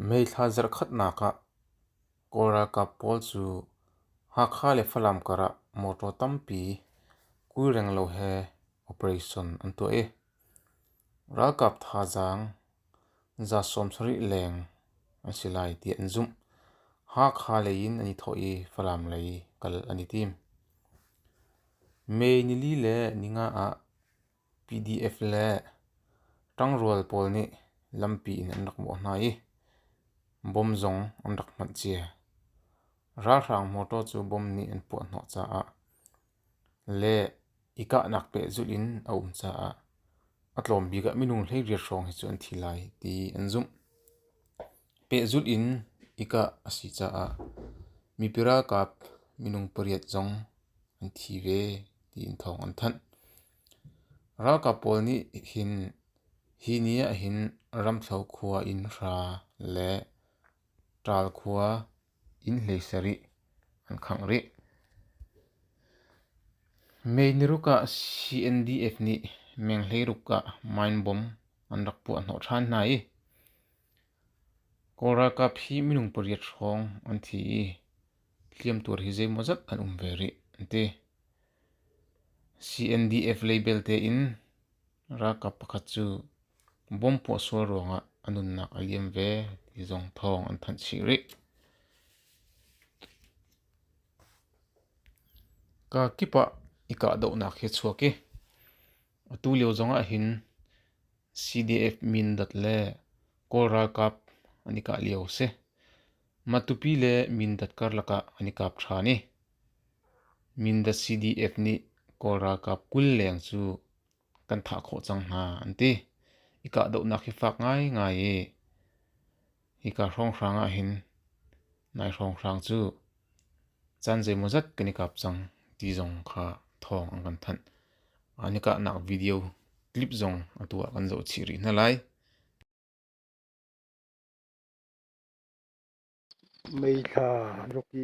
Meithla zarhkhatnak ah Kawl ralkap pawl cu Hakha le Falam kar ah mawṭaw tampi kuirenglo he operation an tuah i ralkap thazaang za sawmsarih leng an si lai tiah an zumh. Hakha lei in an i thawh i Falam lei kal an i tim. May nili le ninga ah PDF le ṭangrual pawl nih lampi in an rak mawh hna i bom zong an rak hmanh cia. Ralhrang motor cu bom nih an puahhnawh caah le i kahnak pehzulh in a um caah a tlawm bik ah minung hleiriat hrawng hi cu an thi lai ti an zumh. Pehzulh in i kah a si caah mipi ralkap minung pariat zong an thi ve tiin thawng an thanh. Ralkap pawl nih hin hi ni ahhin Ramthlo khua in hra le Ṭaal khua in hlei sarih an khangh rih. Mei niruk ah CNDF nih meng hleiruk ah mine bomb an rak puah hnawh ṭhan hna i Kawl ralkap hi minung pariat hrawng an thi i hliamtuar hi zeimawzat an um ve rih an ti. CNDF lei belte in ralkap pakhat cu bom puah sual ruangah a nunnak a liam ve ti zong thawng an thanh chih rih. Ka kip ah i kahdohnak hi a chuak i atu lio zong ahhin CDF Mindat le Kawl ralkap an i kah lio a si. Matupi le Mindat karlak ah an i kap ṭhan i Mindat CDF nih Kawl ralkap kul leng cu kan thah khawh cang hna an ti i kahdohnak hi fak ngaingai i Hika hrawnghrang ah hin nai hrawnghrang cu caan zeimawzat kan i kap cang ti zong kha thawng an kan thanh. An i kahnak video clip zong atu ah kan zoh chih rih hna lai. Meithla rak i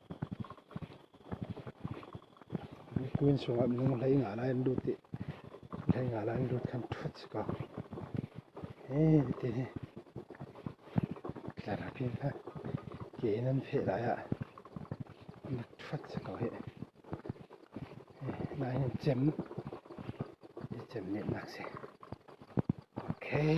Miphun chungah minung hlei nga lai an lut i hlei nga lai an lut kha ṭhut si ko. Hi ti hi tlarap in hla ke in an feh lai ah an ṭhut si ko hi. Nai hin cem i cem nih nak si. Okay.